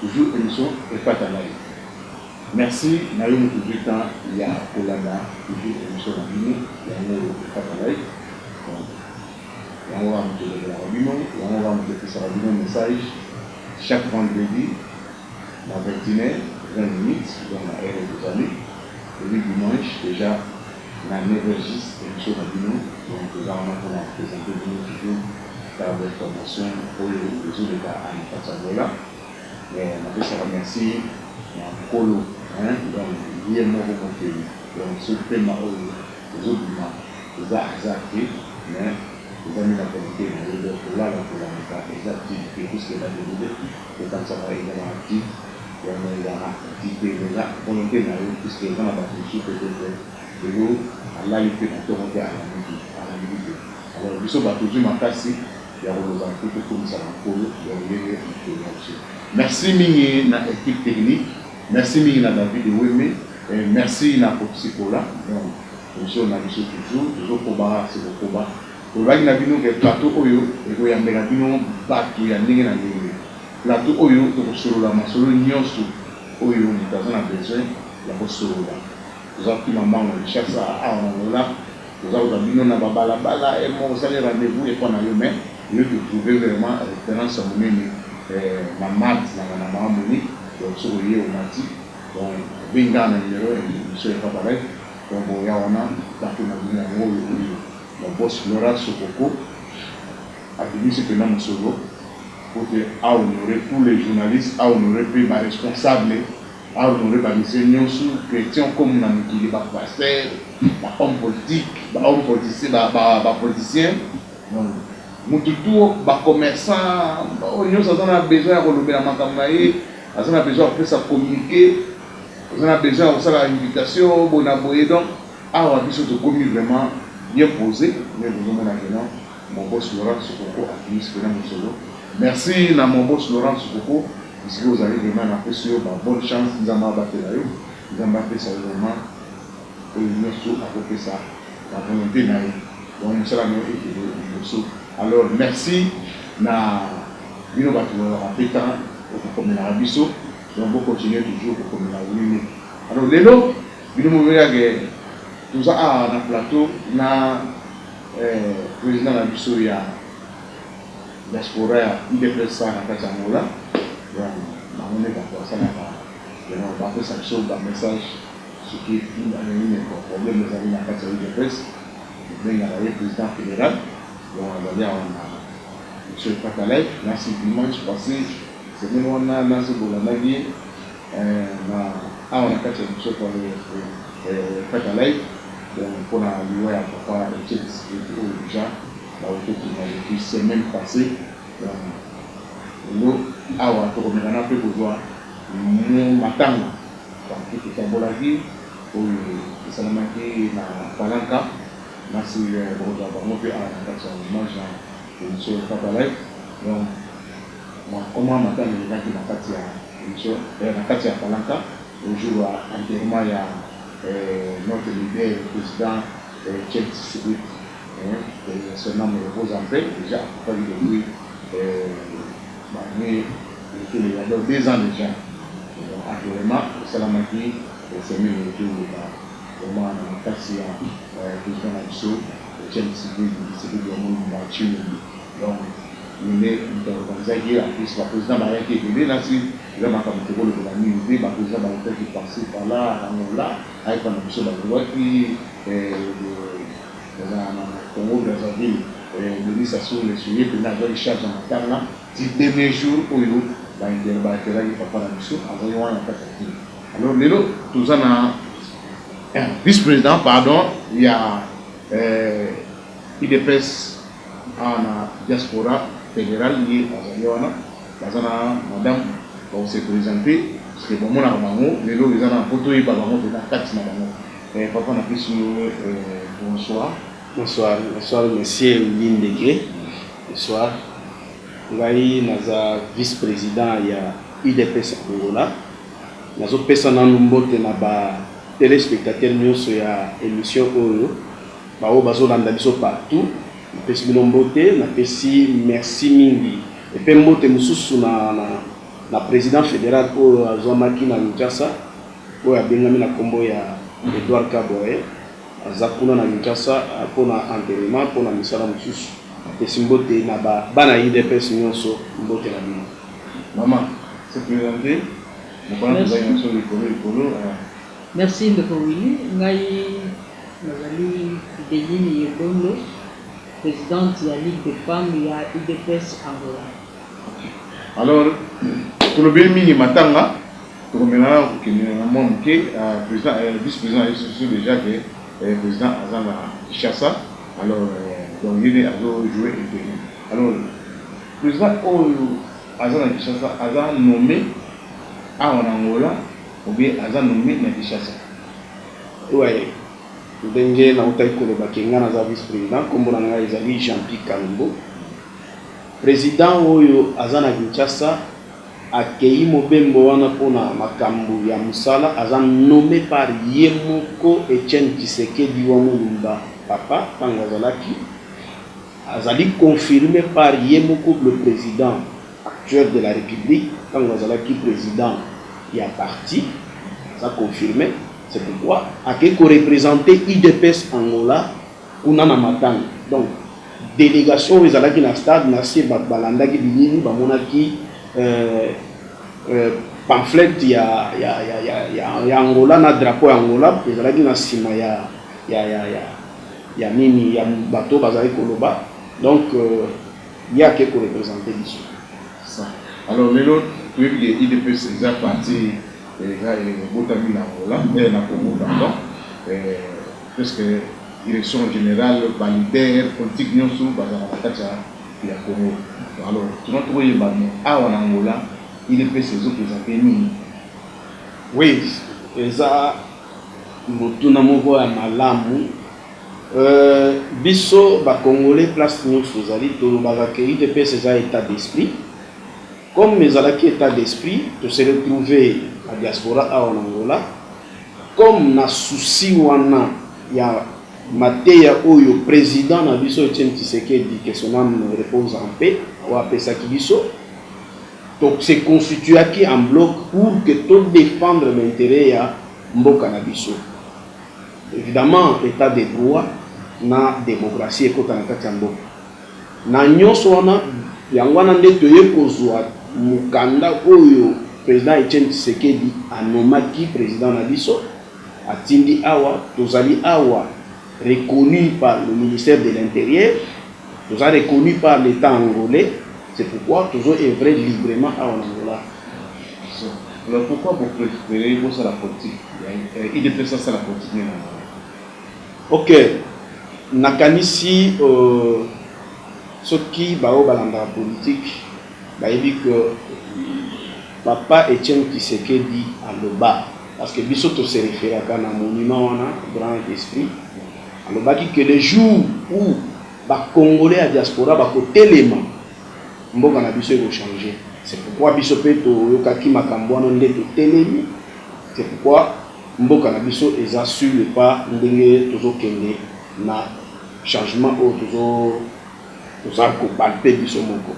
Toujours emission epata nayo merci nayo mutu ozui temps ya kolanda toujours emission na bino yango oyo epata nayo donc yango kaka mutu elobelaka bino yango kaka mutu epesaka bino message chaque vendredi na 21 heure 20 minutes donc na heure oyo tozali epuis dimanche dejà Na levee juste emission na bino donc toza wana pona ko presenter bino toujours ba informations oyo ezo leka a n'kati ya Angola mais na pesaka merci na nkolo hein donc ye moko mokeli donc ce pema oyo ezo bima eza hasard te mais eza nde na volonte na ye donc ko lala ko lamuka eza activite puisque na devide Kokanisaka enyama ya tii yango ezalaka tii te mpenza mpono mpe na yo, puisque eza na bato mosusu peut-etre lelo alali mpe na ntongo mpe alamuki alambi te. Alors biso bato tozwi makasi ya koloba mpe tokumisaka Nkolo lolenge mokolo ya loseko. Merci mingi na equipe technique, merci mingi na David Eweme et merci na Koffi Sikola donc emission na biso toujours tozo koba se kokoba. Tolobaki na bino ke plateau oyo ekoyambela bino batu ya ndenge na ndenge. Plateau oyo tokosolola masolo nionso oyo mutu aza na besoin ya kosolola. Toza kima mbangu na Kinshasa, awa na Angola toza kozwa bino na ba bala bala et moko osali rendez vous epwa na yo mais yo tu trouve vraiment reference ya munene na Math na Ngana Mahamoni donc soki oye omati donc obengi kaka na numero ya emission ya Papa Rev donc boya wana plateau na bino yango oyo. Mon boss Laurent Sokoko abimisi penza mosolo po te a honorer tous les journalistes, a honorer pe ba responsables, a honorer ba messieurs nionso, chretiens comme na mokili, ba pasteurs, ba hommes politiques, ba hommes politiciens, ba politiciens, donc mutu tout, ba commerçants, oyo nionso aza na besoin ya kolobela makambo na ye, aza na besoin ya kopesa communique, aza na besoin ya kosala invitation boye na boye, donc. Awa biso tokomi vraiment bien pose mais bozo mona que non mon boss Laurent Sokoko abimisi pena mosolo merci na mon boss Laurent Sokoko esika ozali vraiment na pesi yo ba bonne chance nzambe abatela yo nzambe apesa yo vraiment oyo nioso ako pesa na volonte na ye donc mosala na yo ekende liboso alors merci na bino batu bozalaka pe temps ya ko komelaka biso donc bo continuer toujours ko komela wenge alors lelo Bino bobelela ke toza awa na plateau na president na biso ya diaspora ya udps awa na kati ya Angola donc bango nde batu basalaka yango bapesa biso ba message soki probleme ezali na kati ya udps tobengaka ye president federal donc azali awa na emission epata live nasi dimanche passe semaine wana nasi bolandaki ye Eeh na awa na kati ya nzoto ya ye eeh kaka live donc pona liwa ya papa Etienne Tshisekedi oyo dejà bawuti kobima depuis semaine passee donc lelo awa toko meka na pe kozua matanga donc pe totambolaki oyo esalemaki na Palanca na sima bokozua bango pe awa na kati ya image na emission kaka live donc comment matanga elekaki na kati ya Emission ya na kati ya falanta le jour ya enterrement ya notre leader le president Etienne Tshisekedi que son ame repose en paix dejà akufaki depuis ba annee ekele ya donc deux ans dejà donc enterrement esalamaki semaine oyo to loba vraiment na makasi ya president na biso Etienne Tshisekedi Tshisekedi ya Mulumba Tshilombo. Donc Rene moto aorganisaki ye en plus ba president bayaki ebele nasi eza makambo toko lobela mingi te ba president bautaki par ci par là Angola aepa na biso balongwaki eh na na Congo Brazzaville eh Denis Sassou N'Guesso ye pena azwaki charge ya matanga ti dernier jour oyo ba inter ba enteraki papa na biso azali wana na kati ya kin alors lelo toza na eh vice president pardon ya eh udps Awa na diaspora federal ye azali wana baza na madame bako se presenter puisque bomonaka bango lelo eza na po toyeba bango pena kati na bango eh papa na pesi yo bonsoir. Bonsoir bonsoir monsieur Willy Ndege bonsoir ngai naza vice president ya udps Angola nazo pesa nanu mbote na ba telespectateurs nionso ya emission oyo. Baoyo bazo landa biso partout na pesi bino mbote na pesi merci mingi epe mbote mususu na na president federal oyo azuamaki na Kinshasa oyo abengami na kombo ya Edouard Kaborhe aza kuna na Kinshasa pona enterrement pona misala mususu na pesi mbote na ba bana ya udps nionso mbote na bino. Maman se presente na bana toza nioso likolo likolo. Merci ndeko Willy ngai. Nazali Deline Yedondo, presidente ya Ligue des femmes ya udps Angola. Alors tolobeli mingi matanga, tokomela nanu kokende na mwa moke. President, vice president ayebi biso dejà que president aza na Kinshasa, alors donc ye nde azo jouer interim. Alors president oyo aza na Kinshasa aza nomme awa na Angola ou bien aza nomme na Kinshasa? Oyo ndenge nawutaki koloba ke nga naza vice president kombo na nga ezali Jeanpy Kalombo president oyo aza na Kinshasa akeyi mobembo wana pona makambu ya musala aza nomme par ye moko Etienne Tshisekedi wa Mulumba papa tangu azalaki azali confirme par ye moko le president actuel de la republique tangu azalaki president ya parti eza confirme c'est pourquoi akeyi ko representer udps Angola kuna na matanga donc delegation oyo ezalaki na stade na se batu balandaki bilili bamonaki pamphlete ya Angola na drapeau ya Angola ezalaki na sima ya nini ya batu oyo bazalaki koloba donc. Ye ake ko representer biso. Ça alors lelo toyebi ke udps eza parti eza ebotami na Angola eh na Congo pardon eh presque direction generale ba leader politique nionso bazalaka na kati ya Congo donc alors tuna toko yeba mais awa na Angola udps ezo presenter nini? Oui eza motuna moko ya malamu Euh biso ba congolais place nioso tozali tolobaka que udps eza etat d'esprit comme ezalaki etat d'esprit to se retrouver na diaspora awa na Angola comme na souci wana ya mateya oyo president na biso Etienne Tshisekedi que son ame repose en paix oyo apesaki biso to se constituaki en bloc pour que to defendre ba interets ya mboka na biso. Evidemment etat de droit na democratie ekota na kati ya mboka na nionso wana, yango wana nde toye kozua mokanda oyo President Etienne Tshisekedi a nommaki President na biso atindi awa, tozali awa reconnus par le ministère de l'interieur. Toza reconnu par l'etat angolais c'est pourquoi tozo oeuvrer librement awa na Angola. Alors pourquoi bo preferer bosala politique ya udps asala politique naye na Angola? Ok nakanisi soki baoyo balandaka politique bayebi que papa Etienne Tshisekedi aloba parce que biso to se referaka na monument wana grand esprit. Alobaki que le jour où ba congolais ya diaspora bako telema, mboka na biso eko changer. C'est pourquoi biso pe to yokaki makambo wana nde to telemi. C'est pourquoi mboka na biso eza sur le pas ndenge tozo kende na changement oyo tozo toza ko palper biso moko.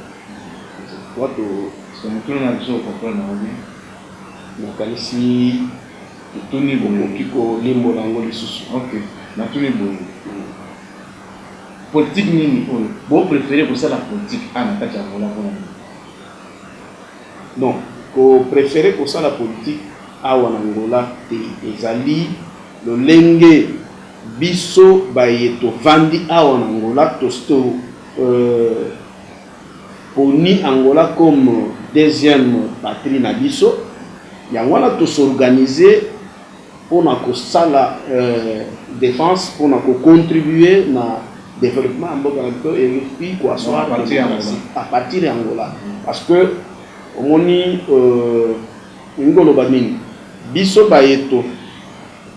C'est pourquoi to. Motuna na biso o comprendre yango bien? Na kanisi. Otuni bokoki ko limbola yango lisusu? Ok natuni boye politique nini oyo bo prefere kosala politique awa na kati ya Angola pona nini? Non ko prefere kosala politique awa na Angola te ezali lolenge biso baye tovandi awa na Angola to Poni Angola comme deuxième patrie na biso yango wana to s'organiser pona kosala defense pona ko contribuer na developpement ya mboka na biso et puis ko asseoir democratie à partir ya Angola parce que omoni elingi koloba nini biso baye to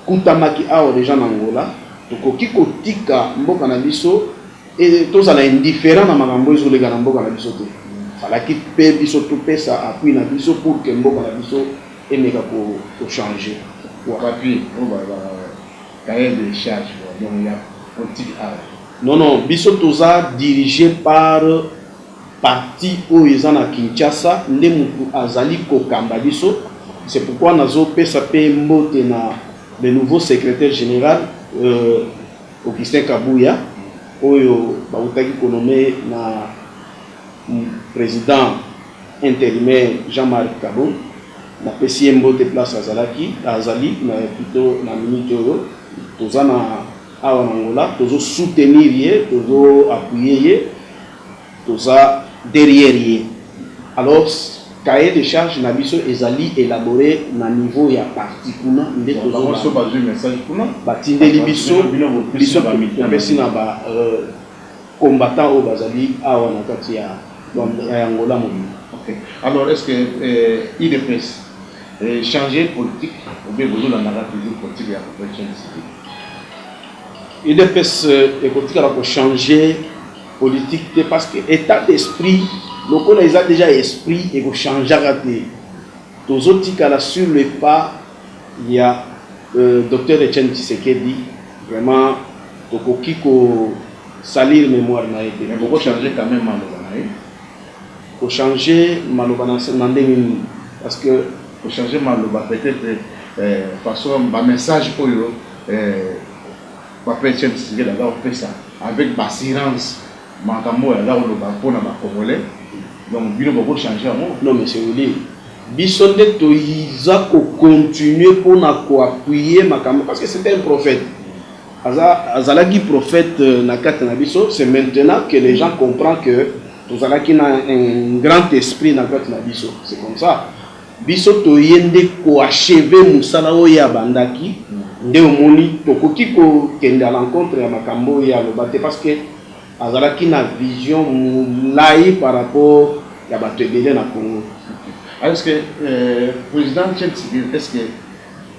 kutamaki awa dejà na Angola tokoki kotika mboka na biso Et tozala indifferent na makambo ezo leka na mboka na biso te. Falaki pe biso to pesa appui na biso pour que mboka na biso emeka ko changer. Pourquoi? Papy oyo ba ba cahier de charge oyo donc ya politique awa. Non non biso toza dirige par parti oyo eza na Kinshasa nde mutu azali kokamba biso c'est pourquoi nazo pesa pe mbote na le nouveau secretaire general euh, Augustin Kabuya oyo bawutaki ko nommer na president interimaire Jean Marc Kabund, napesi ye mbote place azalaki, azali mais plutot na minute oyo toza na awa na Angola tozo soutenir ye, tozo appuyer ye. Toza derrière ye. Alors cahier de charge na biso ezali elabore na niveau ya parti kuna nde tozolanda. Batindeli biso, biso topesi na ba combattants oyo bazali awa na kati ya Angola mobimba. Ok. Alors est-ce que udps e changer politique ou bien bozolanda kaka toujours politique ya Felix Tshisekedi? Udps ekotikala ko changer. politique te parce que etat d'esprit lokola eza dejà esprit eko changeaka te tozo tikala sur le pas ya euh, docteur Etienne Tshisekedi vraiment tokoki ko salir mémoire na ye te mais boko changer quand même maloba na ye ko changer maloba na na ndenge nini parce que ko changer maloba peut-être euh, façon ba message oyo euh, Ba pression Tshisekedi aza kopesa avec b'assurances makambo oyo aza koloba mpo na ba congolais donc bino boko changer yango? Non monsieur Willy, biso nde toza ko continuer mpo na ko appuyer makambo parce que c'est un prophète, aza azalaki prophète na kati na biso, c'est maintenant que les gens comprend que tozalaki na un grand esprit na kati na biso, c'est comme ça. Biso toye nde ko achever musala oyo ye abandaki nde omoni tokoki ko kende à l'encontre ya makambo oyo ye aloba te parce que azalaki na vision mulayi par rapport ya batu ebele na Congo. Est ce que president Tshisekedi est ce que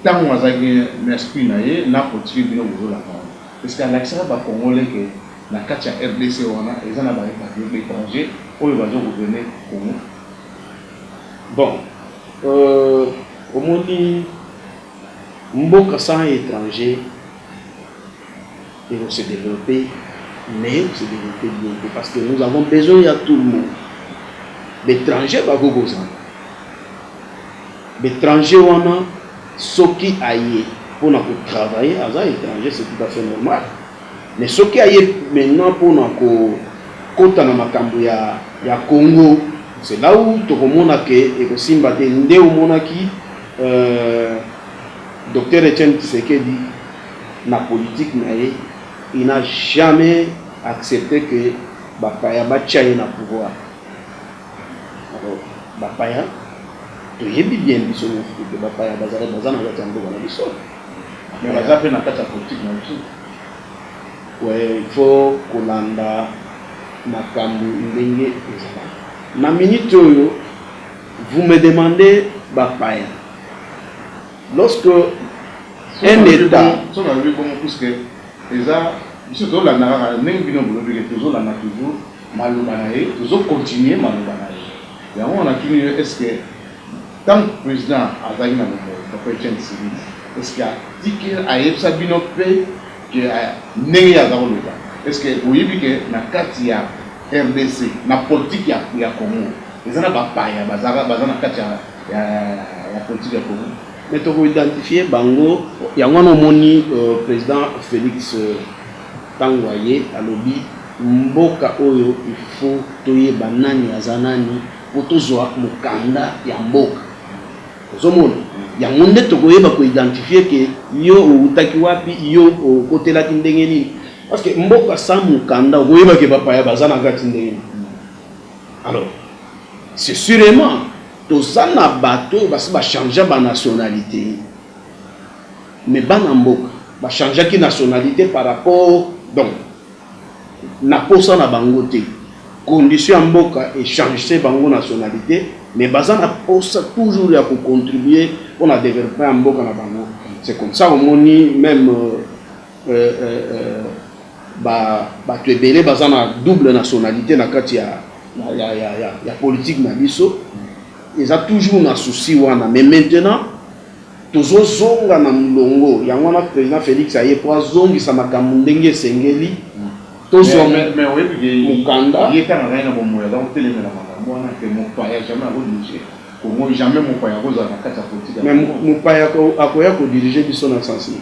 tango azalaki na speech na ye na politique bino bozo landa wana est ce que alakisaka ba congolais que na kati ya rdc wana eza na ba etrangers oyo bazo gouverner Congo? Bon euh omoni mboka sans etranger eko se developper mais eko se developper bien te parce que nous avons besoin ya tout le monde b'etranger bakoki kozala b'etranger wana soki aye pona ko travailler aza etranger c'est tout à fait normal Mais soki aye maintenant pona ko kota na makambu ya ya Congo c'est là où toko mona que eko simba te nde omonaki Docteur Etienne Tshisekedi na politique na ye il n'a jamais accepte que ba paya ba tia ye na pouvoir alors ba paya toyebi bien biso nioso que ba paya baza na kati ya mboka na biso. mais baza mpe na kati ya politique na biso que il faut kolanda makambo ndenge ezalaka na minute oyo vous me demandez bapaya lorsque un état so nalobi bongo puisque eza biso tozolanda kaka ndenge bino bolobi ke tozolanda toujours maloba na ye tozocontinue maloba na ye yango wana tuni yo est ce que Tango president azalaki na bomoyi papa Etienne Tsiridi est ce que atiki ayebisa bino pe que ndenge ye aza koloba est ce que boyebi que na kati ya rdc na politique ya ya Congo eza na ba paya bazalaka baza na kati ya ya ya politique ya Congo mais toko identifier bango yango wana omoni president Felix tango aye alobi mboka oyo il faut toyeba nani aza nani po tozua mukanda ya mboka ozo mona yango nde toko yeba ko identifier ke yo owutaki wapi yo okotelaki ndenge nini parce que mboka sans mukanda oko yeba ke ba paya baza na kati ndenge nini alors c'est surement toza na bato oyo basi ba changea ba nationalite mais bana mboka ba changeaki nationalite par rapport donc na posa na bango te condition ya mboka e changese bango nationalite mais baza na posa toujours ya ko contribuer pona developpement ya mboka na bango c'est comme ça omoni meme ba batu ebele baza na double nationalite na kati ya ya ya ya politique na biso eza toujours na souci wana mais maintenant Tozo zonga na mulongo yango wana president Felix aye po azongisa makambu ndenge esengeli tozua mukanda. Ye tanga ngai na bomoyi aza kotelemela makambu wana te mopaya jamais ako dirige congo jamais mopaya akozala na kati ya politique ya congo. Mais mopaya akoya ko dirige biso na sens nini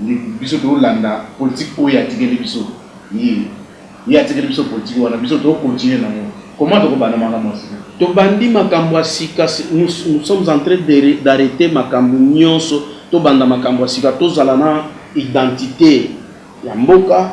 Ndeko biso to landa politique oyo atikeli biso ye ye atikeli biso politique wana biso to continuer na ngo comment toko banda makambo ya sika? To bandi makambo ya sika nous nous sommes en train de d'arreter makambo nionso to banda makambo ya sika to zala na identite ya mboka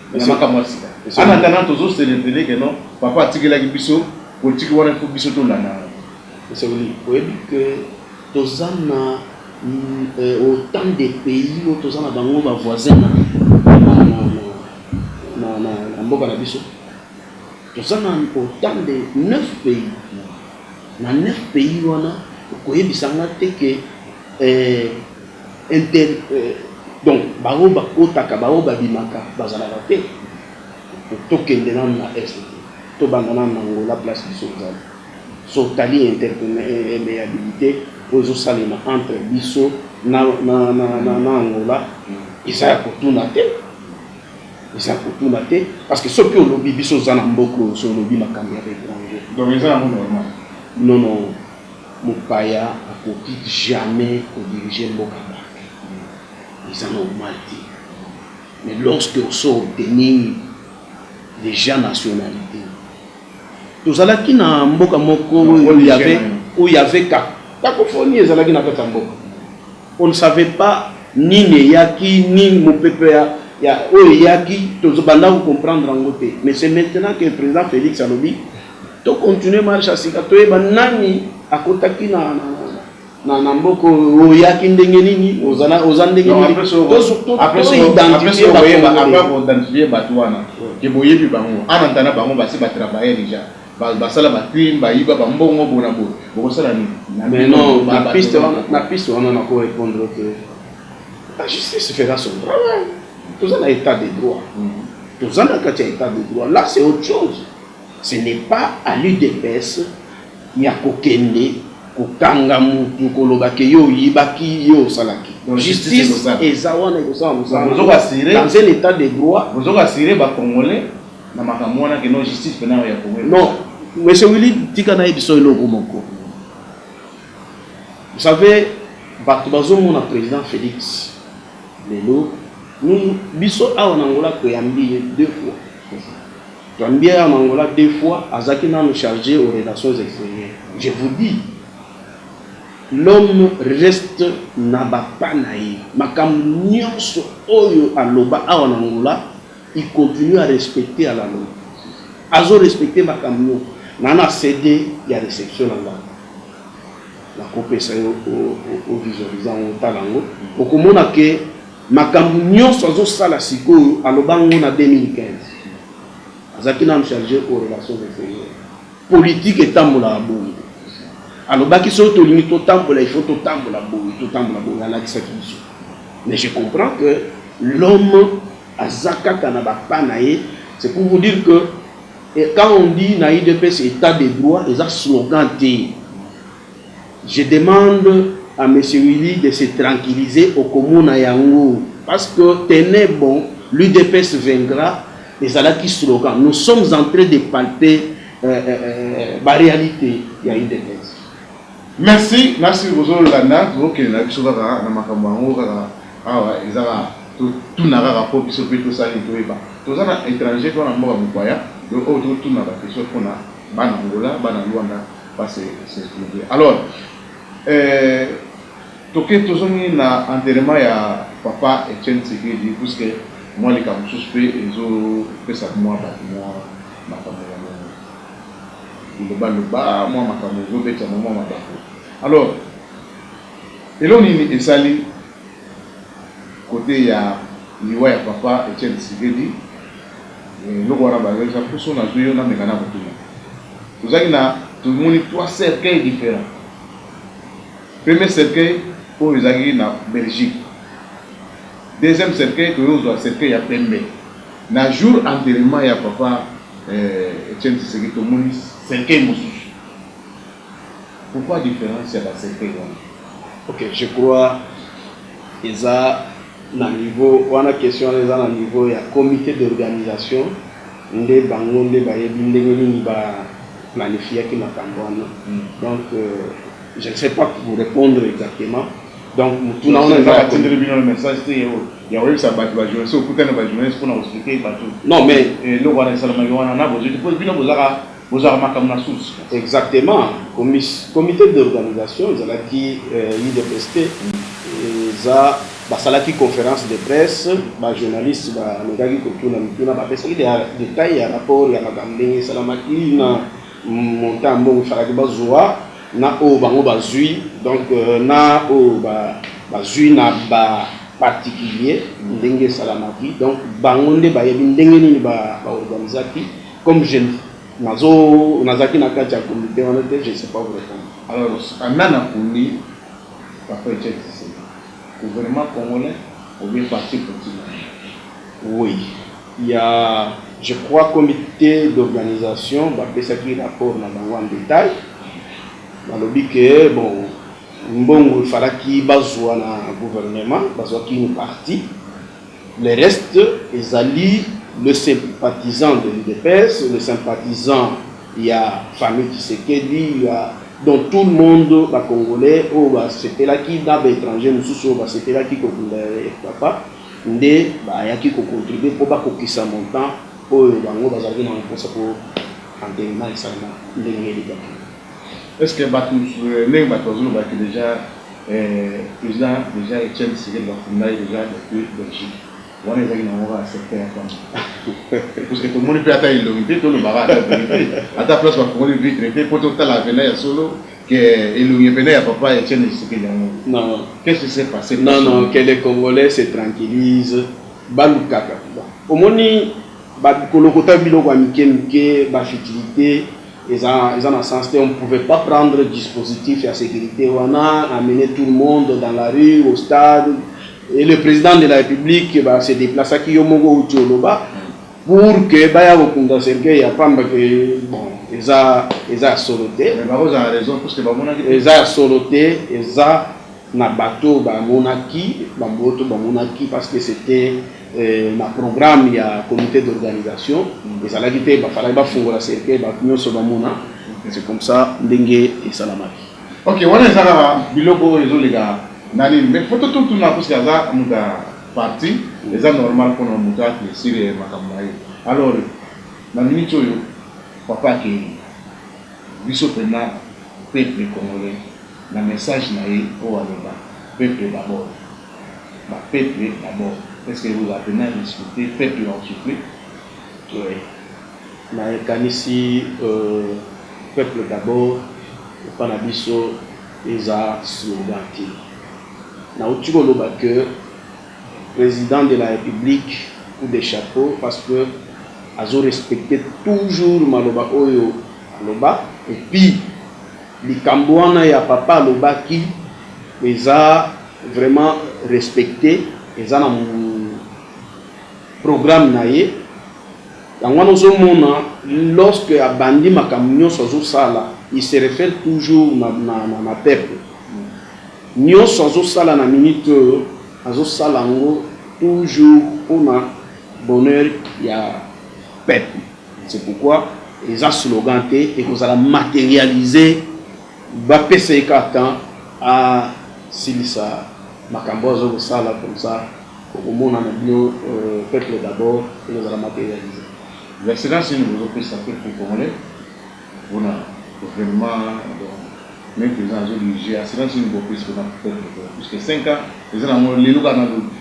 na makambo ya sika. En attendant tozo celebrele que non papa atikelaki biso politique wana il faut biso tolanda yango. Esauli oyebi que toza na autant de pays oyo toza na bango ba voisin na mboka na biso? Toza na autant de 9 pays na 9 pays wana okoyebisa nga te que Inter donc ba oyo ba kotaka ba oyo ba bimaka ba zalaka te? To kende nanu na Est te to banda nanu na Angola place biso tozali. So tali interpemeabilite oyo ezo salema entre biso na na Angola eza ya ko tuna te eza ya ko tuna te parce que soki olobi biso oza na mboka oyo so olobi makambo ya ba etranger donc eza yango normal? Non non Mopaya akoki jamais ko diriger mboka parfaitement eza normal te mais lorsque osi o obtenir dejà nationalite tozalaki na mboka moko oyo il y'avait cacophonie ezalaki na kati ya mboka on ne savait pas nini eyaki nini mopepe ya oyo eyaki tobanda ko comprendre yango te mais c'est maintenant que president Felix alobi To continuer marche ya sika toyeba nani akotaki na na na mboko oyaki ndenge nini ozana oza ndenge nini toidentifie bato wana ke boyebi bango ana ntana bango basi batravaille deja basala bacrime bayiba bambongo bona bo bokosala nini na piste wana nako répondre ke la justice fera son travail toza na état de droit toza na kati ya état de droit là c'est autre chose Ce n'est pas à l'udps ya ko kende ko kanga mutu ko loba que yo oyibaki yo osalaki. Justice eza wana eko sala musala dans un etat de droit. Bozo rassurer ba congolais na makambo wana que non justice pena oyo ya Congo eko sala. Non monsieur Willy tika na yebiso eloko moko vous savez batu bazo mona president Felix lelo biso awa na Angola to yambi ye deux fois. Janvier en Angola deux fois azalaki nanu charge aux relations exterieures je vous dis l'homme reste na ba pas na ye makambo nionso oyo aloba awa na Angola il continue à respecter à la loi azo respecter makambo nionso na na CD ya reception na nga nakopesa yo o visualisa yango otala yango okomona que Makambu nionso azo sala sikoyo aloba ngo na 2015 azalaki nanu charge aux relations exterieurs politique etambolaka bongo alobaki soki tolingi totambola il faut totambola boye totambola boye alakisaki biso mais je comprends que l'homme aza kaka na ba pas na ye c'est pour vous dire que et quand on dit na udps etat de droit eza slogan te Je demande à monsieur Willy de se tranquilliser okomona yango parce que tenez bon l'udps vaincra ezalaki slogan nous sommes en train de palper ba realite ya udps. Merci merci bozo landa tozo kende na biso kaka na makambo yango kaka awa eza kaka to tuna kaka po biso pe to sala nini to yeba toza na etranger to na mboka mopaya donc oyo to tuna ba question pona bana Angola bana Luanda Ba se se trouver alors euh toke tozongi na enterrement ya papa Etienne Tshisekedi puisque mua likambo mosusu pe ezo pesa mua batu mua makambo ya biloba loba mua makambo ezo betama mua mabaku alors eloko nini esali cote ya liwa ya papa Etienne Tshisekedi Eh eloko wana ba loi eza poso nazui yo na meka na kotuna tozalaki na tomoni trois cercueil different premier cercueil oyo ezalaki na Belgique deuxième cercueil toye kozua cercueil ya pembe na jour enterrement ya papa eh Etienne Tshisekedi tomoni cercueil mosusu Pourquoi difference ya ba secret wana? Ok je crois eza na niveau wana question wana eza na niveau ya comite d'organisation nde bango nde bayebi ndenge nini ba planifiaki makambo wana donc je ne sais pas vous repondre exactement donc motuna wana eza ya comite. Ya koyebisa batu ba journaliste okutani na ba journaliste pona ko expliquer batu eloko wana esalamaki wana na bozo te po bino boza ka Bozwaka makambo na source. Exactement comite d'organisation ezalaki udps te eza basalaki conference de presse ba journaliste ba mekaki kotuna mituna ba pesaki detail ya rapport ya makambo ndenge esalamaki na montant mbongo efalaki bazua na oyo bango bazui donc na oyo bazui na ba particulier ndenge esalamaki donc bango nde bayebi ndenge nini ba organisaki Comme je nazo nazalaki na kati ya comite wana te, je ne sais pas vous repondre. Alors nani aponii papa Etienne Tshisekedi? Gouvernement congolais ou bien parti politique na ye? Oui il ya je crois comite d'organisation ba pesaki rapport na bango en detail balobi que bon mbongo il falaki bazua na gouvernement bazuaki une partie Le reste ezali le sympathisant de l'udps, le sympathisant ya famille Tshisekedi, ya donc tout le monde ba congolais oyo ba sepelaki na ba etrangers mosusu oyo ba sepelaki ko kunda Rdpapa nde ba yaki ko contribuer mpo ba kokisa montant oyo bango bazalaki na yango mposa mpo enterrement esalema ndenge elekaki. Est ce que batu ndenge batu bazo loba que dejà president dejà Etienne Tshisekedi ba kunda ye dejà depuis Belgique wana ezalaki na yango kaka secret ya kanda parce que tomoni pe ata elongi te toloba kaka ata verite ata place ba fongoli vitre te po totala pena ya solo que elongi ya pena ya papa Etienne Tshisekedi yango non qu'est ce qui s'est passe non non que les congolais se tranquillise balukaka omoni ba kolokota biloko ya mike mike ba futilite Eza eza na sens te on ne pouvait pas prendre dispositif ya securite wana amener tout le monde dans la rue au stade et le president de la republique ba se deplaçaki yo moko outi oloba pour que baya kokunda cercueil ya pamba que bon eza eza ya solo te Mais bakozala na raison puisque bamonaki te. eza ya solo te eza na bato bamonaki bamboto bamonaki parce que c'était na programme ya comite d'organisation ezalaki te ba falaki ba fungola cercueil batu nionso ba mona c'est comme ça ndenge esalamaki. Ok wana eza kaka biloko oyo ezo leka na nini mais faut to tuna parce que aza mutu ya parti eza normal pona mutu a eclaircir makambo na ye alors na minute oyo papa akeyi biso pena peuple congolais na message na ye oyo aloba peuple d'abord ba peuples d'abord est ce que vous avez na respecter peuples en souffrir? Oui naye kanisi peuples d'abord epa na biso eza slogan te na wuti ko loba que president de la republique coup de chapeau parce que azo respecter toujours maloba oyo aloba et puis Likambo wana ya papa alobaki eza vraiment respecte eza na programme na ye yango wana ozo mona lorsque abandi makambo nionso azo sala il se refere toujours na na na peuple nionso azo sala na minute oyo azo sala yango toujours pona bonheur ya peuple C'est pourquoi eza slogan te, ekozala materialise, ba pesa ye kaka temps a silisa makambo oyo azo ko sala comme ça oko mona na bino peuple d'abord eko zala materialise. L'Excellence nini bozo pesa peuple congolais pona evenement donc meme president azo dirige assurance nini bo pesi pona peuple congolais puisque cinq ans eza nango lelo kaka na lobi.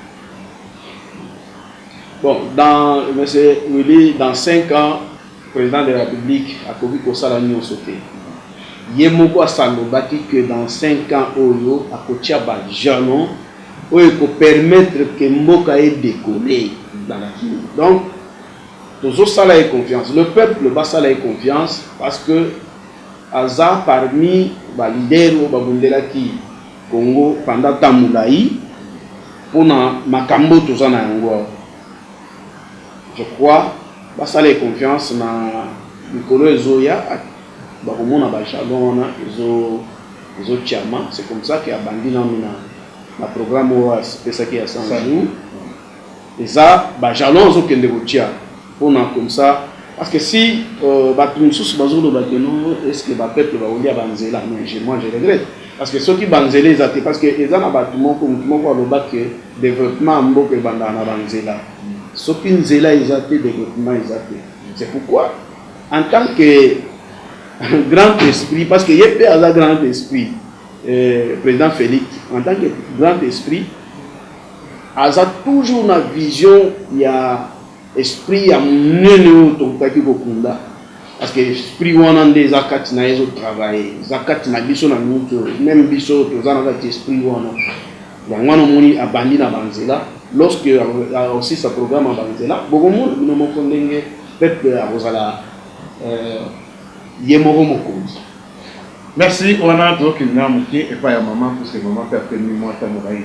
Bon dans monsieur Willy dans cinq ans president de la republique akoki kosala nionso te ye moko asalobaki que dans cinq ans oyo akotia ba jalons oyo eko permettre que mboka e decoller ezalaki donc tozo sala ye confiance le peuple basala ye confiance parce que aza parmi ba leaders oyo babundelaki Congo pendant temps mulayi pona makambo toza na yango awa je crois basala ye confiance na mikolo ezo ya bako mona ba jalons wana ezo ezo tiama c'est comme ça que abandi nanu na na programme oyo apesaki ya 100 jours Eza ba jalons ozo kende ko tia pona comme ça parce que si batu mususu bazo loba que non est ce que ba peuples bako lia ba nzela mais je moi je regrette parce que soki ba nzela eza te parce que eza na batu moko mutu moko aloba que developpement ya mboka ebandaka na ba nzela soki nzela eza te developpement eza te c'est pourquoi en tant que grand esprit parce que ye pe aza grand esprit euh, président Félix en tant que grand esprit Aza toujours na vision ya esprit ya munene oyo tokokaki kokunda parce que esprit wana nde eza kati naye ezo travailler eza kati na biso na minute oyo meme biso oyo toza na kati esprit wana yango wana omoni abandi na ba nzela lorsque akosilisa programme ya ba nzela bokomona bino moko ndenge peuple akozala euh, ye moko mokonzi Merci wana tokende na moke epai ya mama puisque mama mpe apemi mwata murayi.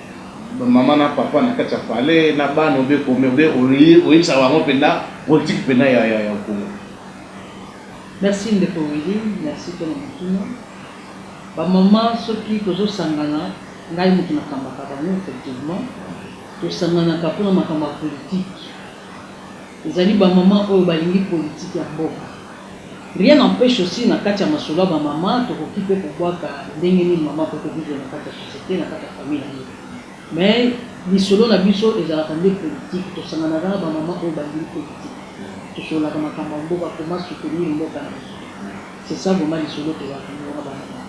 Ba maman na papa na kati ya palais na bana obe combien obe oyebisaka bango penda politique penda ya ya ya congo. Merci ndeko Willy, merci pona motuna. Ba maman soki tozo sangana ngai mutu na kambaka bango effectivement, tosanganaka pona makambo ya politique. Ezali ba maman oyo balingi politique ya mboka. Rien n'empeche aussi na kati ya masolo ya ba maman tokoki pe kobwaka ndenge nini maman akoki ko vivre na kati ya societe, na kati ya famille na ye. Mais lisolo na biso ezalaka nde politique, tosanganaka na ba maman oyo balingi politique. Tosololaka makambo ya mboka, comment soutenir mboka na biso. C'est ça vraiment lisolo tozalaka na yango na ba maman.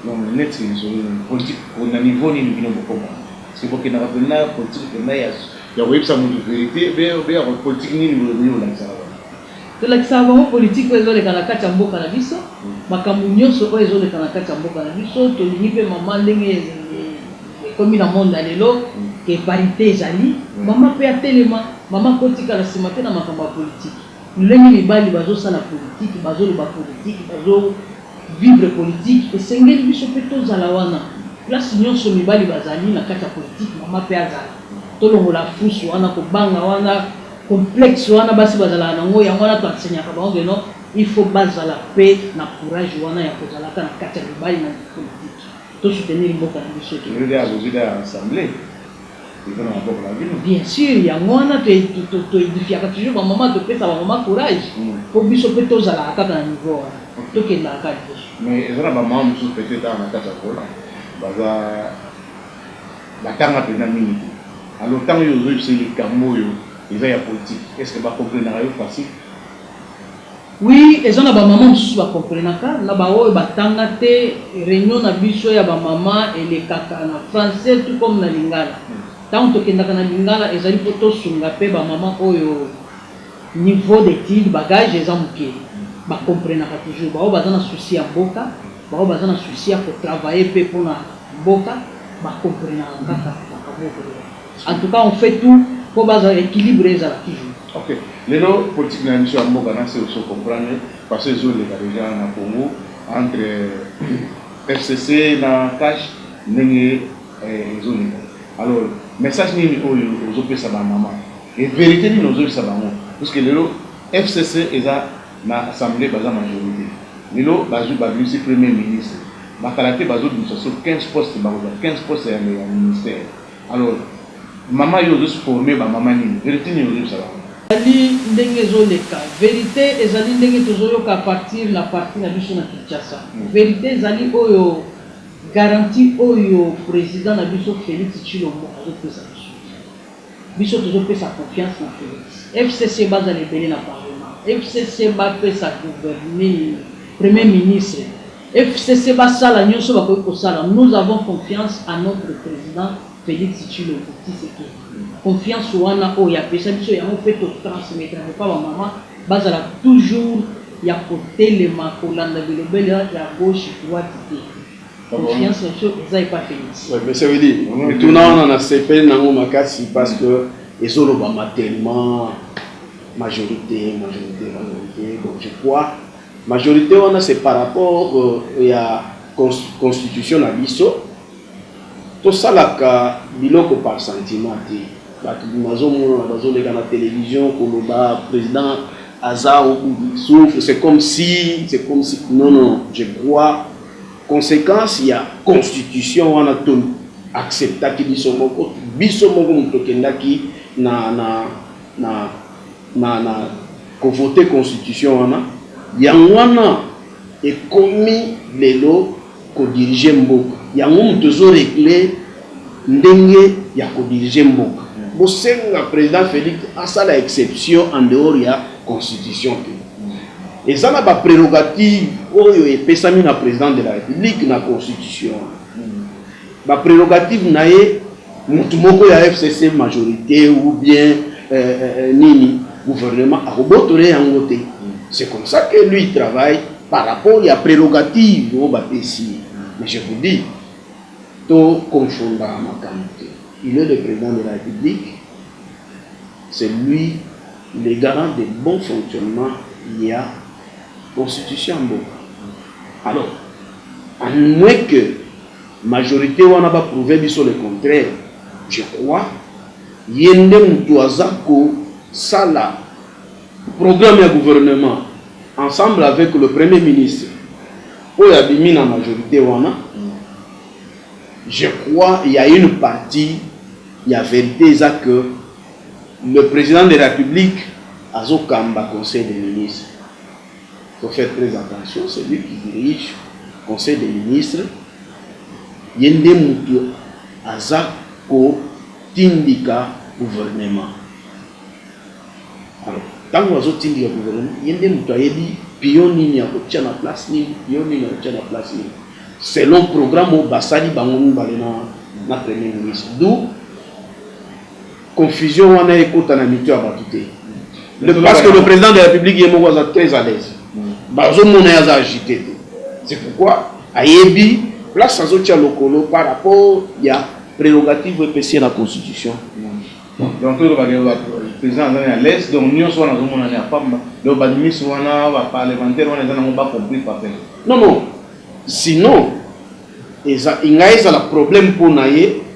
Donc neti lisolo nini? Politique na niveau nini bino bokoma? Parce que bokendaka penza politique penza ya. Ya koyebisa mutu verite obe ako politique nini boye ekoki kolakisa na bango. Tolakisaka bango politique oyo ezoleka na kati ya mboka na biso, makambu nionso oyo ezoleka na kati ya mboka na biso, tolingi pe maman ndenge ekomi na monde ya lelo que parite ezali, maman pe atelema, maman akotikala sima te na makambo ya politique. Lolenge mibali bazo sala politique, bazo loba politique, bazo vivre politique, esengeli biso mpe tozala wana. Place nionso mibali bazali na kati ya politique, mama mpe azala. Tolongola fousse wana, kobanga wana, complexe wana basi bazalaka na ngo, yango wana to enseignaka bango que non, il faut bazala mpe na courage wana ya kozalaka na kati ya mibali na politique. To soutenir mboka na biso ekende liboso. eza na maboko na bino. Bien sur yango wana to edifiaka toujours ba maman to pesa ba maman courage po biso pe to zalaka kaka na niveau wana to kendaka kaka liboso. Mais eza na ba maman mususu peut etre awa na kati Angola baza ba tanga penza mingi te alors tango yo ozo yebisa ye likambu oyo eza ya politique est ce que ba comprenaka yo facile? Oui eza na ba maman mususu ba comprenaka na ba oyo ba tanga te reunion na biso ya ba maman elekaka na français tout comme na lingala tango tokendaka na lingala ezali po tosunga pe ba maman oyo niveau d'etude bagage eza muke ba comprenaka toujours ba oyo baza na souci ya mboka ba oyo baza na souci ya ko travailler pe pona mboka ba comprenaka kaka makambo oyo tolobaka. En tout cas on fait tout po bazala equilibre ezala toujours. Ok lelo politique na biso ya mboka nase ozo comprendre façon ezo leka dejà na Congo entre FCC na cash ndenge ezo leka alors message nini oyo ozo pesa ba maman et verite nini ozo yebisa bango puisque lelo FCC eza na assemblee baza majorite lelo bazui ba bimisi premier ministre ba kala te bazo bimisa sur 15 postes bakozua 15 postes ya ministère Alors maman yo ozo former ba maman nini verite nini ozo yebisa bango. Ezali ndenge ezo leka. Verite ezali ndenge tozo yoka à partir na parti na biso na Kinshasa. Verite ezali oyo garantie oyo president na biso Felix Tshilombo azo pesa biso. Biso tozo pesa confiance na Felix. FCC bazala ebele na parlement. FCC ba pesa gouverneur, premier ministre. FCC basala nioso bakoki kosala nous avons confiance à notre president Felix Tshilombo Tshisekedi confiance wana oyo apesa biso yango mpe to transmettre yango epa ba maman bazala toujours ya kotelema kolanda bilobela ya gauche droite te confiance na biso eza epa Felix. Monsieur Willy, mituna wana nasepeli na yango makasi parce que ezolobama tellement majorite majorite majorite donc je crois Majorite wana c'est par rapport ya constitution na biso tosalaka biloko par sentiment te batu nazomona bazoleka na television koloba president aza au bout du souffle c'est comme si c'est comme si non non je crois consequence ya constitution wana to acceptaki biso moko biso moko moto tokendaki na na na na na ko voter constitution wana yango wana ekomi lelo ko diriger mboka yango moto ezo regle ndenge ya ko diriger mboka bosenga president Felix asala exception en dehors ya constitution te eza na ba prerogative oyo epesami na president de la republique na constitution. Ba prerogatives na ye mutu moko ya FCC majorite ou bien nini gouvernement akobotole yango te c'est comme ça que lui il travaille par rapport ya prerogatives oyo ba pesi ye mais je vous dis to confondaka makambu te il est le president de la Republique c'est lui le garant de bon fonctionnement ya constitution ya mboka alors à moins que Majorite wana ba prouve biso le contraire je crois ye nde mutu aza ko sala programme ya gouvernement ensemble avec le premier ministre oyo abimi na majorite wana je crois ya une partie ya verite eza que le president de la publique azo kamba conseil de ministre. to faire tres attention celui qui dirige conseil de ministre ye nde mutu aza ko tindika gouvernement alors tangu azo tindika gouvernement ye nde mutu ayebi pion nini ako tia na place nini pion nini ako tia na place nini selon programme oyo basali bango mibale na na premier ministre d'où Confusion wana ekota na mitu ya batu te. Parce que le president de la republique ye moko aza très à l'aise. Bazo mona ye aza agite te. C'est pourquoi ayebi place azo tia lokolo par rapport ya prerogative oyo epesi ye na constitution. Donc to loba que president aza à l'aise donc nionso wana azo mona ya pamba. Donc ba ministre wana ba parlementaire wana eza nango ba compris papin. Non non sinon eza enga ezala problème pona ye.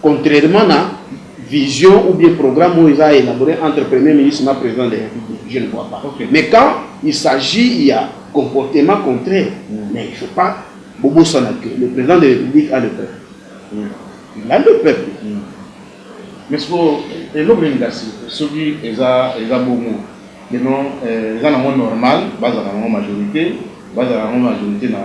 Contrairement na vision ou bien programme oyo eza elabore entre premier ministre na president de la republique je ne vois pas okay. mais quand il s'agit ya comportement contraire mm. mais il faut pas bobosana que le président de la république a le peuple mm. il a le peuple mm. mais siko eloko nini kasi soki eza eza bongo keno eh, eza nango normal bazala nango majorité bazala nango majorité na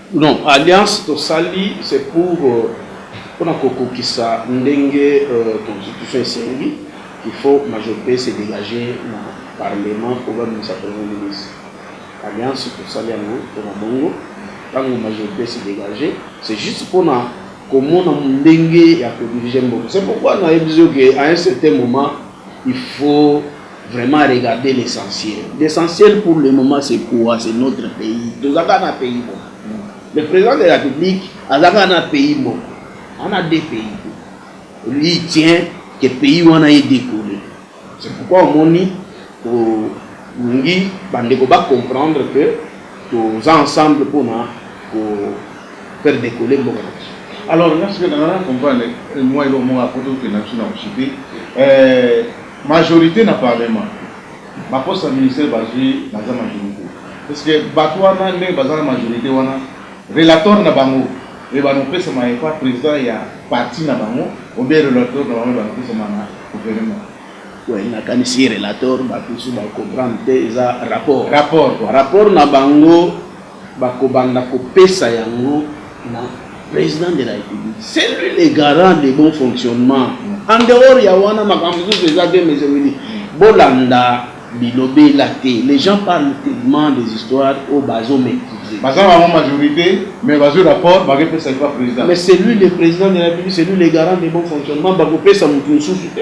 Non alliance tosali c'est pour pona kokokisa ndenge constitution esengi il faut majorite ese degage na parlement po babimisa premier ministre alliance tosali yango pona bongo tango majorite ese degage c'est juste pona komona ndenge ya ko dirige mboka c'est pourquoi nayebisi yo ke à un certain moment il faut Vraiment regarder l'essentiel l'essentiel pour le moment c'est quoi c'est notre pays toza kaka na pays moko le president de la publique aza kaka na pays moko ana de pays te lui tient que pays wana ye dekole c'est pourquoi omoni tolingi bandeko ba comprendre que toza ensemble mpona ko faire decoller mboka na biso alors nga sika nanga na comprendre moi eloko moko apoto okenda biso na kosupe Majorite na parlement ba poste ya ministère bazui baza majorite est ce que batu wana ndenge baza na majorite wana relator na bango ebanda kopesama epa president ya parti na bango ou bien relator na bango ebanda kopesama na gouvernement? Oui na kanisi relator batu misusu ba comprendre te eza rapport rapport na bango. Bakobanda kopesa yango na President de la Republique. C'est lui le garant de bon fonctionnement. En dehors ya wana makambo mosusu eza bien mais je vous dis bolanda bilobela te. Les gens parlent tellement des histoires oyo bazo maîtriser. Baza bango majorite mais bazwi rapport bakepesa epa President. Mais c'est lui le President de la Republique, c'est lui le garant de bon fonctionnement, bakopesa mutu mosusu te.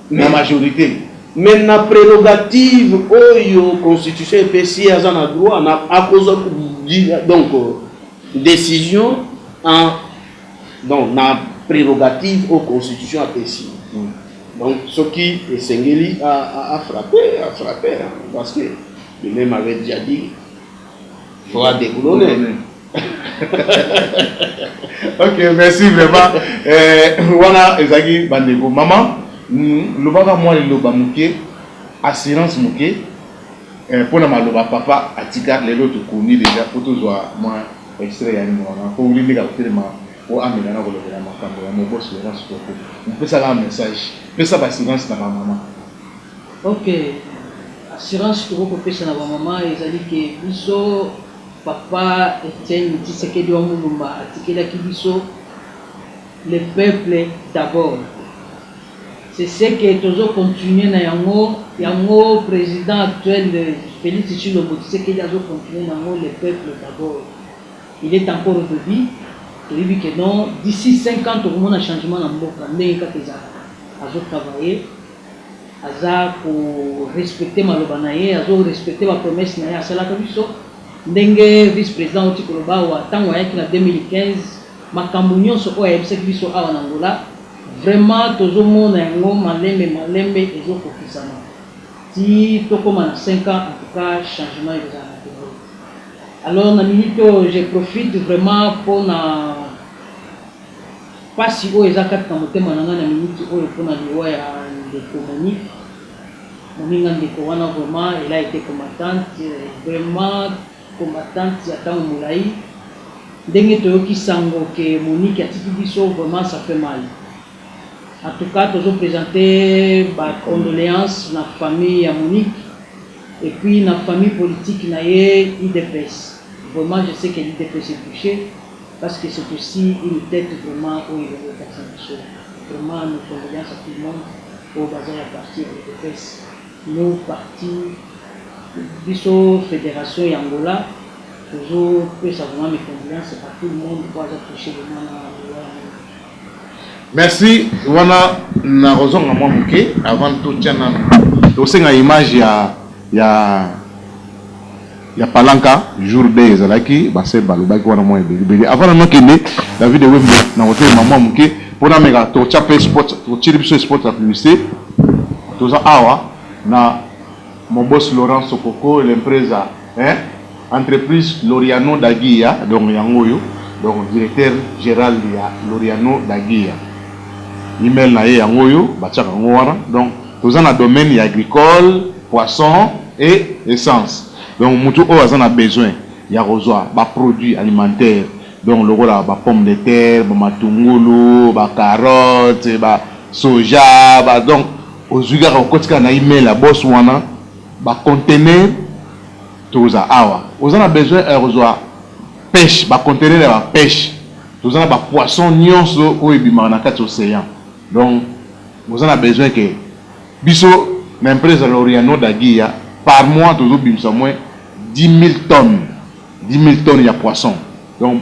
na majorite. Mais na prerogative oyo constitution epesi ye aza na droit na akozwa donc decision en donc na prerogative oyo constitution apesi donc soki esengeli afrape afrape parce que lui-même avait déjà dit Fora de Kulone. ok merci vraiment eh, wana ezalaki bandeko mama mm, lobaka mwa liloba moke assurance moke eh, mpo na maloba papa atika lelo tokomi deja mpo tozwa mwa extrait ya nyongo wana mpo wili ndeka kotelema mpo amela na kolobela makambo ya mobosi werance koko mpesaka message pesa basilence na bamama Ok assurance tokoki kopesa na ba mama ezali ke biso papa Etienne tshisekedi wa mulumba atikelaki biso le peuple d'abord c'est ce que tozo continuer na yango yango president actuel Felix tshilombo tshisekedi azo continuer na yango le peuple d'abord il est encore de vie toyebi que non d'ici cinq ans tokomona changement na mboka ndenge kaka ezalaka azo travailler aza ko respecter maloba na ye, azo respecter ba promesses na ye asalaka biso, ndenge vice president awuti koloba awa, tango ayaki na 2015 makambu nionso oyo ayebisaki biso awa na Angola vraiment tozo mona yango malembe malembe ezo kokisama ti tokoma na cinq ans, en tout cas changement ekozala na Congo. Alors na minute oyo je profite vraiment pona. Pasi oyo eza kati na motema na ngai na minute oyo pona liwa ya ndeko Monique moninga ndeko wana vraiment elle a ete combattante vraiment combattante ya tango molayi ndenge toyoki sango que Monique atiki biso vraiment ça fait mal en tout cas tozo presente ba condoleances na famille ya Monique et puis na famille politique na ye udps vraiment je sais que l'udps est touche. Parce que c'est aussi une tete vraiment oyo elingi etalisa biso vraiment nos condoleances à tout le monde oyo baza ya parti ya udps nous parti biso federation ya Angola tozo pesa vraiment mes condoleances à tout le monde oyo aza touche vraiment na liwa ya mama Merci wana nakozonga mwa moke avant totia nanu tosenga image ya ya ya palanka jour day ezalaki base balobaki wana mwa ebele ebele avant nanu akende David Wembo nakotelema mwa moke mpo nameka totia mpe spot totieli biso spot ya publicité toza awa na Mon boss Laurent Sokoko l'impreza eh Entreprise Laureano da Guia donc yango oyo donc Directeur Gerald ya Laureano da Guia email na ye yango oyo batiaka yango wana donc toza na domaine ya agricole, poisson et essence donc mutu oyo aza na besoin ya kozua ba produits alimentaires donc lokola ba pommes de terre, ba matungulu, ba carottes, ba soja, ba donc Ozui kaka okoti kaka na email ya boss wana ba contenaire toza awa oza na besoin ya kozua peche ba contenaire ya ba peche toza na ba poisson nionso oyo ebimaka na kati ocean donc oza na besoin ke biso na empresa Loriano da Guia par mois tozo bimisa moins 10000 tonnes 10000 tonnes ya poisson donc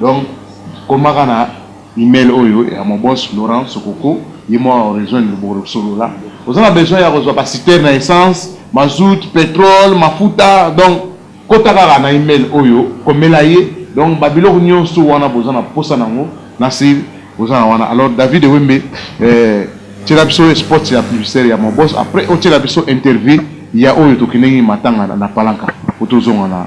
Donc koma ka na email oyo ya mon boss Laurent Sokoko ye moko ako rejoindre yo boko solola. Oza na besoin ya kozua ba citerne ya essence, mazout, petrole, mafuta donc kota kaka na email oyo komela ye donc ba biloko nionso wana boza na posa nango na sir boza na wana alors David Ewembe eh, tiela biso spots ya publicitaire ya mon boss après otiela biso interview ya oyo tokendeki matanga na Palanca po tozonga na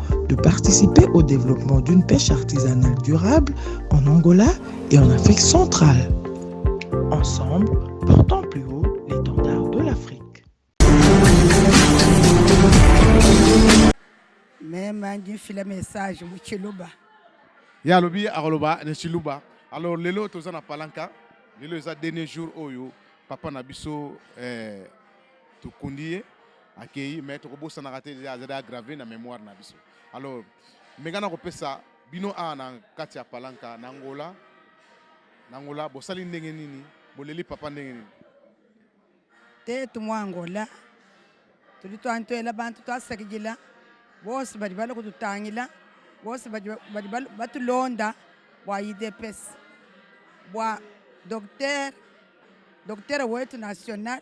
de participer au développement d'une pêche artisanale durable en Angola et en Afrique centrale. Ensemble, portons plus haut l'étendard de l'Afrique. Même un le message, Chiluba. Ya lobi akoloba ne Chiluba. Alors lelo toza na palanka. Lelo eza dernier jour oyo papa na biso eh, tokundi ye akeyi mais tokobosanaka te deja azali aggrave na mémoire na biso alors meka na kopesa bino awa na kati ya palanka na ngola na ngola bosali ndenge nini boleli papa ndenge nini te tumwa ngola tuli twantwela bantu twasakijila bose bali bali kututangila bose bali batulonda bwa idps bwa docteur docteur wetu national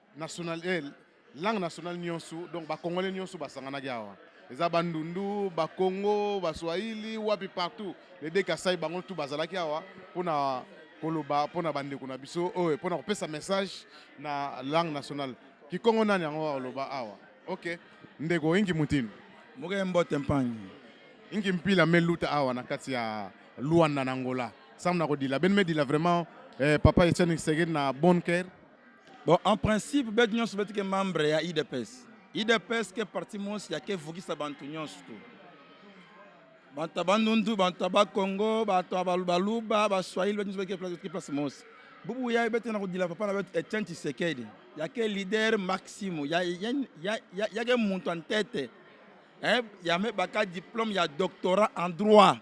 National, eh, langue nationale nionso donc ba congolais nionso basanganaki awa eza bandundu bakongo baswahili wapi partout les deux kasai bango tout bazalaki awa mpona koloba mpona bandeko na biso oyo mpona kopesa message na langue nationale kikongo nani yango akoloba awa ok ndeko ingi mutini moke mbote mpangi ingi mpila meluta awa na kati ya luanda na angola sam na kodila beni medila vraiment eh, papa etienne segedi na bonne care Bon, en principe batu nyonso beti ke membre ya idps idps ke parti monsi ya kevukisa bantu nyonso tu bantu ya bandundu bantu ya bakongo bato ya baluba baswahili batu nyonso beti ke place monsi bubu ya ebeti na kodila papa na beti etienne tshisekedi ya ke leader maximo ya, ya, ya, ya, ya ke muntu en tete eh, ya mebaka diplome ya doctorat en droit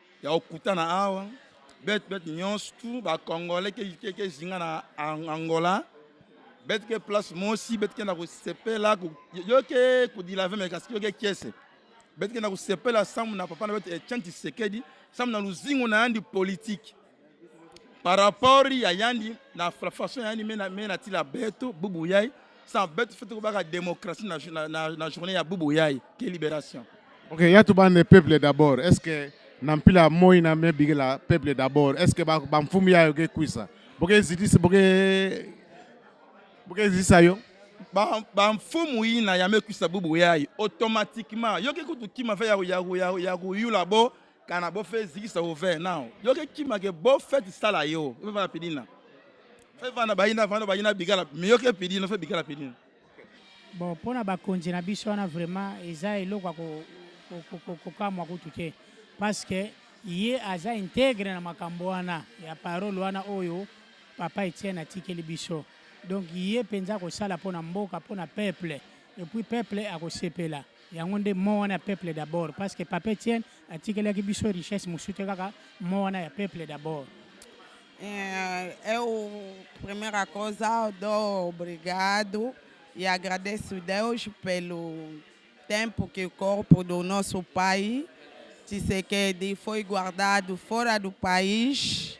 ya okutana awa bete bete nyonso tu bacongolais kezinga na angola bete ke place mosi bete kenda kosepela yoke kodilave me kasi yoke kiese bete kenda kosepela sambo na papa na bete etienne tshisekedi sambo na luzingu na yandi politike par rapport ya yandi na façon yandi mena mena tila beto bubu yai sans beto fait ko baka démocratie na, na, na, na journée ya bubu yai que libération OK ya to bande peuple d'abord est-ce que na mpila moi na me bigela peuple d'abord est-ce que ba, ba mfumu yayo ke kwisa boke zidisi boke boke zisa yo bamfumu ina ya mekisa bubu yayo automatiquement yoki kutu kima fe ya koyula bo Kana bo fe zikisa o ve now. Yo ke kima ke bo fe tisala yo. Fe vana pidina. Fe vana bayina vana bayina bigala. Me yo ke pidina fe bigala pidina. Bon pona ba konje na biso wana vraiment eza eloko ko ko ko kamwa kutu te parce que ye aza integre na makambo wana ya parole wana oyo papa Etienne atikeli biso donc ye mpenza akosala mpo na mboka mpo na peuple epuis peuple akosepela yango nde mot wana ya peuple d'abord parce que papa Etienne atikelaki biso richesse mosusu te kaka mot wana ya peuple d'abord eh, eu primeira coisa dou obrigado e agradeço Deus pelo tempo que o corpo do nosso pai Tshisekedi foi guardado fora do país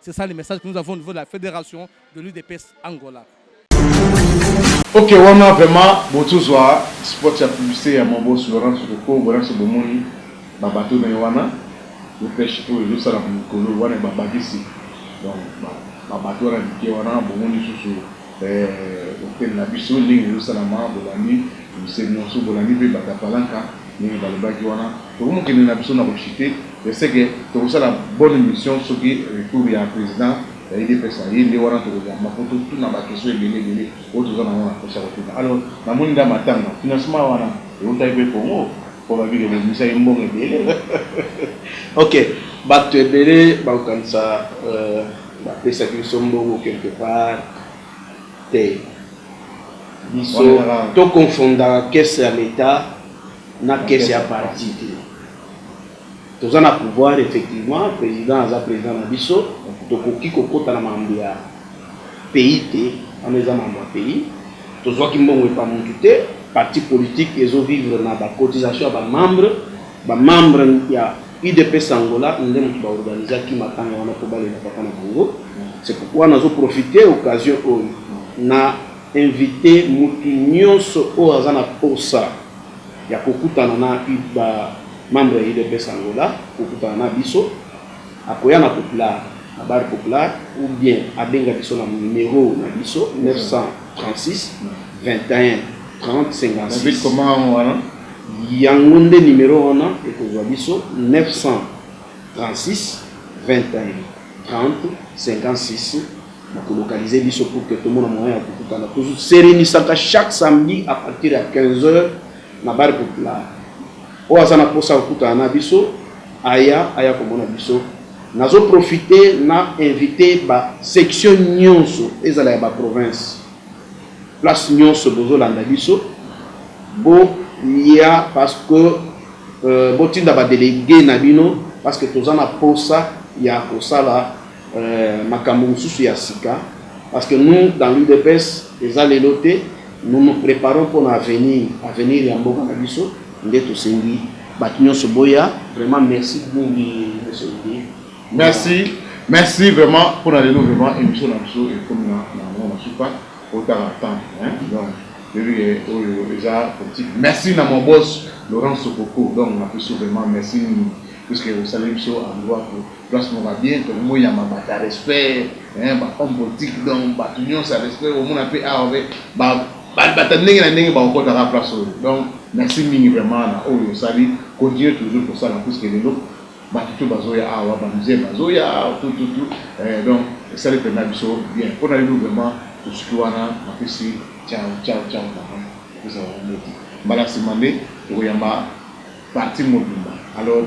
C'est ça le message que nous avons au niveau de la fédération de l'UDPS Angola. Ok, wana vraiment botozwa spot ya publicité ya Mobos Laurent Sotoko, bona biso bomoni ba bateau na ye wana yo pêche oyo ezosala mokolo wana babakisi donc ba bateau wana mike wana bomoni lisusu Bokeli na biso ndenge ezosalama bolandi miseli nionso bolandi mpe batu ya palanca ndenge balobaki wana tokomi kokende na biso na kochute de ce que tokosala bonne emission soki retour ya president ya udps aye nde wana tokoyamba mpo totuna ba question ebele ebele oyo toza na yango na posa ya kotuna alors namoni nda matanga financement wana ewutaki mpe congo mpo babi ke bobimisaki mbongo ebele ok batu ebele bakokanisa euh. Bapesaki biso mbongo quelque part te biso to confondaka caisse ya l'etat na caisse ya parti te toza na pouvoir effectivement president aza president na biso tokoki kokota na mambo ya pays te wana eza mambo ya pays tozwaki mbongo epa mutu te parti politique ezo vivre na ba cotisation ya ba membre ba membre ya Udps Angola nde mutu ba organisaki matanga wana po balela papa na bango c'est pourquoi nazo profiter occasion oyo na inviter mutu nionso oyo aza na posa ya kokutana na ba membres ya udps Angola kokutana na biso akoya na popular na bar popular ou bien abenga biso na numero na biso 936 21 30 56. Yango nde numero wana ekozua biso 936 21 30 56 ba ko localiser biso pour que tomona moyen ya kokutana. To reunisaka chaque samedi à partir ya 15 heures na bar populaire. Oyo aza na posa kokutana na biso aya aya komona biso nazo profite na invite ba section nyonso ezala ya ba province Place nionso bozo landa biso bo lia parce que bo tinda ba delegues na bino parce que toza na posa ya ko sala makambu mususu ya sika parce que nous dans l'udps eza lelo te nous nous preparons pona avenir, avenir ya mboka na biso nde to sengi batu nionso boya. Vraiment merci mingi monsieur Olivier Merci, merci vraiment pour la lelo vraiment émission na biso ekomi na na mwa masuka otanga temps hein donc yebi ke oyo eza politique merci na mon boss Laurent Sokoko donc na biso vraiment merci mingi puisque osaleli biso endroit pour place moko ya bien to moi ya mabata respect hein ba homme politique donc bato nyonso ya respect omona mpe awa mpe ba bata ndenge na ndenge bakokotaka place oyo donc merci mingi vraiment na oyo osali continuer toujours kosala puisque lelo batu tout bazoya awa ba musiciens bazoya tout tout tout eh donc esali penza biso bien pona yo vraiment tosuki wana napesi ciao ciao ciao papa napesa bango mbote mbala sima nde tokoyamba partie mobimba alors.